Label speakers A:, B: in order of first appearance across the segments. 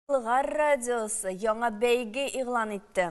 A: Болгар радиосы яңа бәйге игълан итте.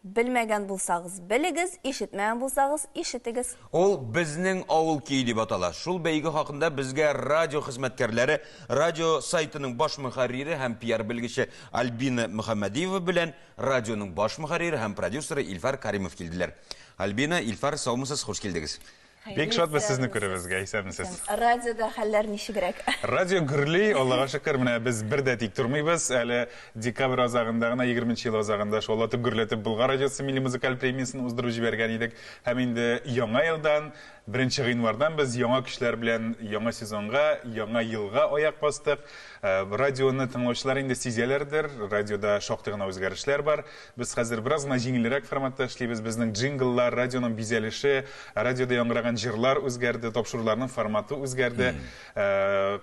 A: Белмәгән булсагыз, белегез, ишетмәгән булсагыз, ишетегез. Ул Безнең
B: авыл көе дип атала. Шул бәйге хакында безгә радио хезмәткәрләре радио сайтының баш мөхәррире һәм пиар белгече Альбина Мөхәммәдиева белән радионың баш мөхәррире һәм продюсеры Илфар Каримов килделәр. Альбина, Илфар, саумысыз, хуш килдегез. Бик шатбыз
C: сезне күрүебезгә, исәнмесез. Радиода хәлләр
A: ничегрәк? Радио гөрли,
C: Аллага шөкер, менә без бер дә тик тормыйбыз. Әле декабрь азагында гына, 20 нче ел азагында шаулатып гөрләтеп Болгар радиосы милли музыкаль премиясен уздырып җибәргән идек. Һәм инде яңа елдан, 1 гыйнвардан без яңа көчләр белән яңа сезонга, яңа елга аяк бастык. Радионы тыңлаучылар инде сизәләрдер, радиода шактый гына үзгәрешләр бар. Без хәзер бераз гына җиңелрәк форматта эшлибез. Безнең джингллар, радионың бизәлеше, радиода яңгыраган җырлар үзгәрде, тапшыруларның форматы үзгәрде.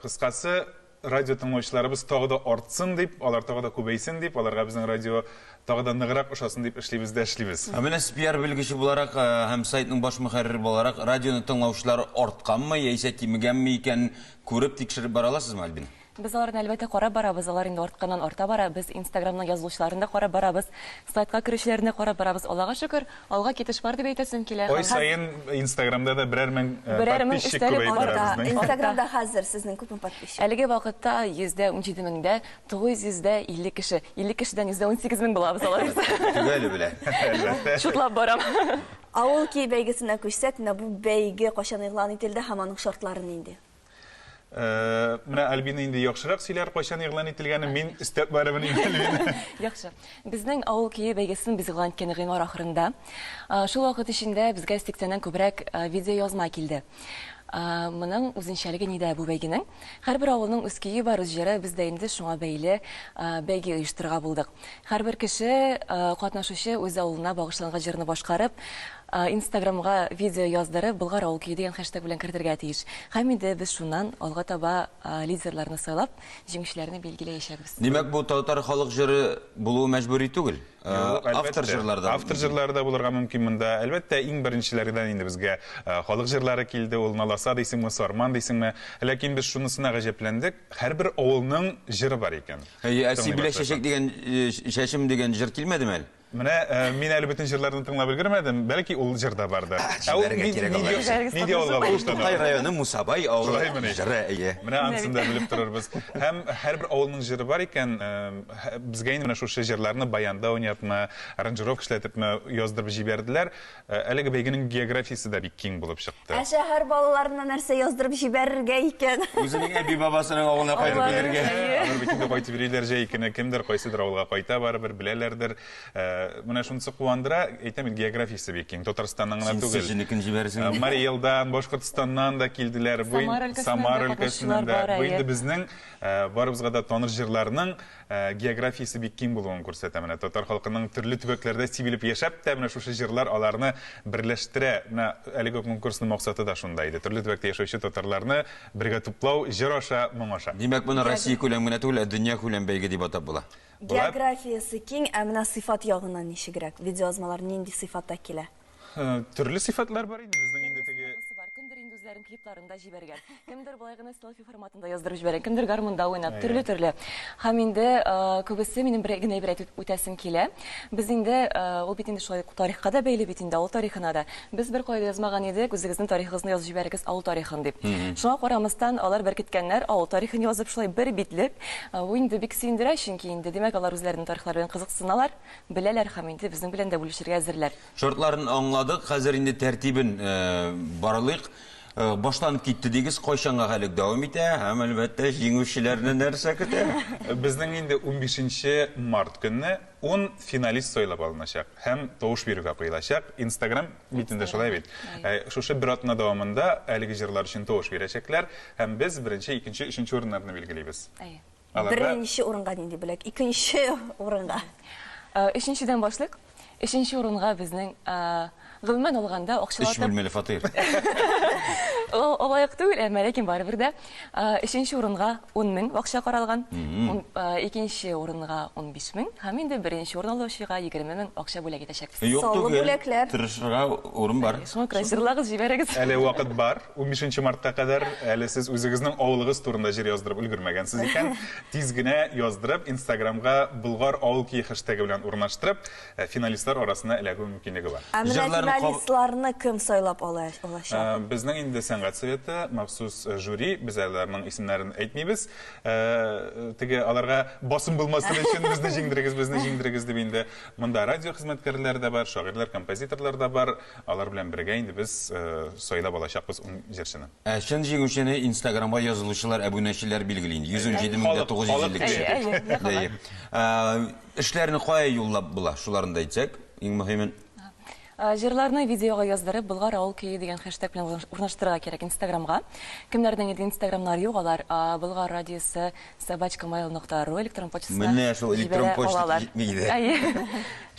C: Кыскасы, радио тыңлаучыларыбыз тагы да артсын дип, алар тагы да күбәйсен дип, аларга безнең радио тагы да ныграк ошасын дип эшлибез дә эшлибез. Ә менә спиар белгече
B: буларак һәм сайтның баш мөхәррире буларак, радионы тыңлаучылар артканмы яисә кимегәнме икәнен күреп, тикшереп бара аласызмы, Альбина? Без аларны, әлбәттә,
D: карап барабыз, алар инде артканнан-арта бара. Без Инстаграмның язылучыларын да карап барабыз, сайтка керүчеләрне дә карап барабыз. Аллага шөкер, алга китеш бар дип әйтәсем килә. Ай саен
C: Инстаграмда да берәр мең подписчик күбәеп бара безнең. Инстаграмда хәзер сезнең
A: күпме подписчик? Әлеге вакытта
D: йөз дә унҗиде меңдә тугыз йөз дә илле кеше. Илле кешедән йөз дә унсигез мең булабыз алайса. Төгәле белән,
B: әлбәттә. Чутлап
C: барам.
D: Авыл көе
A: бәйгесенә күчсәк, менә бу бәйге кайчан игълан ителде һәм аның шартлары нинди? Э,
C: менә Альбина инде яхшырак сөйләр, кайчан игълан ителгәне, мин өстәп барыбын инде Альбина. Яхшы.
D: Безнең авыл көе бәйгесен без игълан иткән гыйнвар ахырында. Э, шул вакыт эчендә безгә 80-нән күбрәк э, видео язма килде. Моның үзенчәлеге нидә бу бәйгенең? Һәрбер авылның үз көе бар, үз җыры, без дә инде шуңа бәйле бәйге оештырырга булдык. Һәрбер кеше, катнашучы үз авылына багышланган җырны башкарып, инстаграмга видео яздырып, Болгар авыл көе дигән хэштег белән кертергә тиеш. Һәм инде без шуннан алга таба лидерларны сайлап, җиңүчеләрне билгеләячәкбез. Димәк, бу татар
B: халык җыры булуы мәҗбүри түгел? Юк, әлбәттә. Автор җырлары да. Автор җырлары да булырга
C: мөмкин монда. Әлбәттә, иң беренчеләрдән инде безгә халык җырлары килде, ул Наласа дисеңме, Сарман дисеңме. Ләкин без шунысына гаҗәпләндек, һәрбер авылның җыры бар икән. Әйе, ә Сибилә чәчәк
B: дигән э, чәчем дигән җыр килмәдеме әле? Менә э, мин әле
C: бөтен җырларны тыңлап өлгермәдем, бәлки ул җыр да бардыр. Ә ул җибәрергә кирәк алар өчен. Нигә алга булыштан? Тукай районы Мусабай
B: авылы Шулаймы ни? җыры, әйе. Менә анысын да белеп
C: торырбыз. Һәм һәрбер авылның җыры бар икән, э, һә- безгә инде менә шушы җырларны баянда уйнатма, аранжировка эшләтепме яздырып җибәрделәр. Ә, Әлеге бәйгенең географиясе дә бик киң булып чыкты. Ә шәһәр балаларына
A: нәрсә яздырып җибәрергә икән? Үзенең әби-бабасының
B: авылына кайтып Авылы, килергә. әйе. Алар бит инде кайтып
C: йөриләр җәй көне, кемдер кайсыдыр авылга кайта барыбер, беләләрдер. Ә, Менә шунысы куандыра, әйтәм бит, географиясе бик киң, Татарстаннан гына Син түгел. Сочиникын җибәрәсең Ә, инде. Марий
B: Элдан,
C: Башкортстаннан да килделәр. Бу ин- Самара өлкәсеннән дә Самара катнашучылар өлкәсеннән дә. бар, Бу әйе. инде безнең, ә, барыбызга да таныр җырларның Ә, географиясе бик киң булуын күрсәтә. Менә татар халкының төрле төбәкләрдә сибелеп яшәп тә, менә шушы җырлар аларны берләштерә. Менә әлеге конкурсның максаты да шунда иде. Төрле төбәктә яшәүче татарларны бергә туплау, җыр аша, моң аша. Димәк, моны Россия күләм
B: генә түгел, ә дөнья күләм бәйге дип атап була. Географиясе
A: киң, ә менә сыйфат ягыннан ничегрәк? Видеоязмалар нинди сыйфатта килә? Төрле
C: сифатлар бар инде безнең инде теге. Кемдер инде үзләрен
D: клипларында җибәргән. Кемдер болай гына селфи форматында яздырып җибәргән, кемдер гармунда уйнап, төрле-төрле. Һәм инде күбесе минем бер генә әйбер әйтеп үтәсем килә. Без инде ул бит инде шулай ук тарихка да бәйле бит инде, авыл тарихына да. Без беркая да язмаган идек, үзегезнең тарихыгызны язып җибәрегез, авыл тарихын дип. Шуңа карамастан, алар беркеткәннәр, авыл тарихын язып, шулай бер битлек. Бу инде бик сөендерә, чөнки инде, димәк, алар үзләренең тарихлары белән кызыксыналар, Беләләр һәм инде безнең белән дә бүлешергә әзерләр. Шартларын аңладык,
B: хәзер инде тәртибен барлыйк. Башланып китте дигез, кайчанга хәлек дәвам итә һәм, әлбәттә, җиңүчеләрне нәрсә көтә? Безнең инде
C: унбишенче март көнне ун финалист сайлап алыначак һәм тавыш бирүгә куелачак. Инстаграм битендә шулай бит. Шушы бер атна дәвамында әлеге җырлар өчен тавыш бирәчәкләр һәм без беренче, икенче, өченче урыннарны билгелибез. Әйе. Беренче
A: урынга нинди бүләк? Икенче урынга. Өченчедән
D: башлыйк. Өченче урынга безнең гомумән алганда
B: акчалата... Өч
D: бүлмәле фатир. Олайык түгел, әмма ләкин барыбер дә. Өченче урынга 10 мең акча каралган. Икенче урынга 15 мең һәм инде беренче урын алучыга 20 мең акча бүләк итәчәкбез. Юк түгел,
A: тырышырга урын
B: бар. Шуңа күрә җырлагыз,
D: җибәрегез. Әле вакыт бар.
C: Унбишенче мартка кадәр әле сез үзегезнең авылыгыз турында җыр яздырып өлгермәгәнсез икән, тиз генә яздырып, инстаграмга Болгар авыл көе хэштегы белән урнаштырып, финалистлар арасына эләгү мөмкинлеге бар. Ә менә финалистларны
B: кем
A: сайлап алачак? Безнең инде сәнгать
C: советы, махсус жюри, без аларның исемнәрен әйтмибез. Теге аларга басым булмасын өчен, безне җиңдерегез, безне җиңдерегез дип инде монда радио хезмәткәрләре дә бар, шагыйрьләр, композиторлар да бар, Алар белән бергә инде без сайлап алачакбыз ун җырчыны. Ә чын җиңүчене
B: инстаграмга язылучылар, әбүнәчеләр билгели инде. 107950 кеше. Эшләрне кая юллап була, шуларны да әйтсәк, иң мөһимен. Җырларны
D: видеога яздырып, Болгар авыл көе дигән хэштег белән урнаштырырга кирәк инстаграмга. Кемнәрнең инде инстаграмнары юк, алар Болгар радиосы Собачкамайл нокта ру электрон почтасына Менә шул электрон җибәрә
B: почта алалар. җитми иде. Әйе.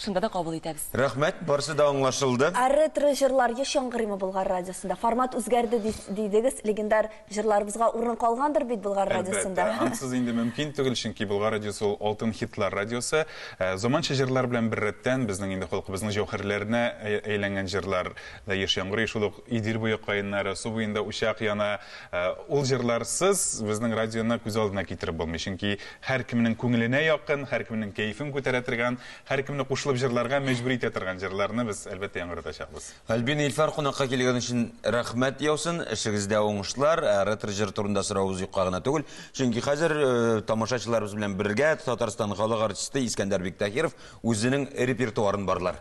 B: Шунда да
D: кабул итәбез. Рәхмәт, барсы да
B: аңлашылды. Ә ретро җырлар
A: еш яңгырыймы Болгар радиосында? Формат үзгәрде ди- дидегез, легендар җырларыбызга урын калгандыр бит Болгар радиосында? Әлбәттә, ансыз инде мөмкин
C: түгел, чөнки Болгар радиосы ул алтын хитлар радиосы. Ә, Заманча җырлар белән беррәттән, безнең инде халкыбызның җәүһәрләренә әй- әйләнгән җырлар да еш яңгырый, шул ук Идел буе каеннары, су буенда учак яна. Э, ул җырларсыз безнең радионы күз алдына китереп булмый. Чөнки һәркемнең күңеленә якын, һәркемнең кәефен күтәрә торган, һәркемне кушылып җырларга мәҗбүр итә торган җырларны без әлбәттә яңгыратачакбыз. Альбина Ильфар кунакка
B: килгән өчен рәхмәт яусын. Эшегездә уңышлар. Ә ретро җыр турында соравыбыз юкка гына түгел. Чөнки хәзер э, тамашачыларыбыз белән бергә Татарстан халык артисты Искәндәр Биктахиров үзенең репертуарын барлар.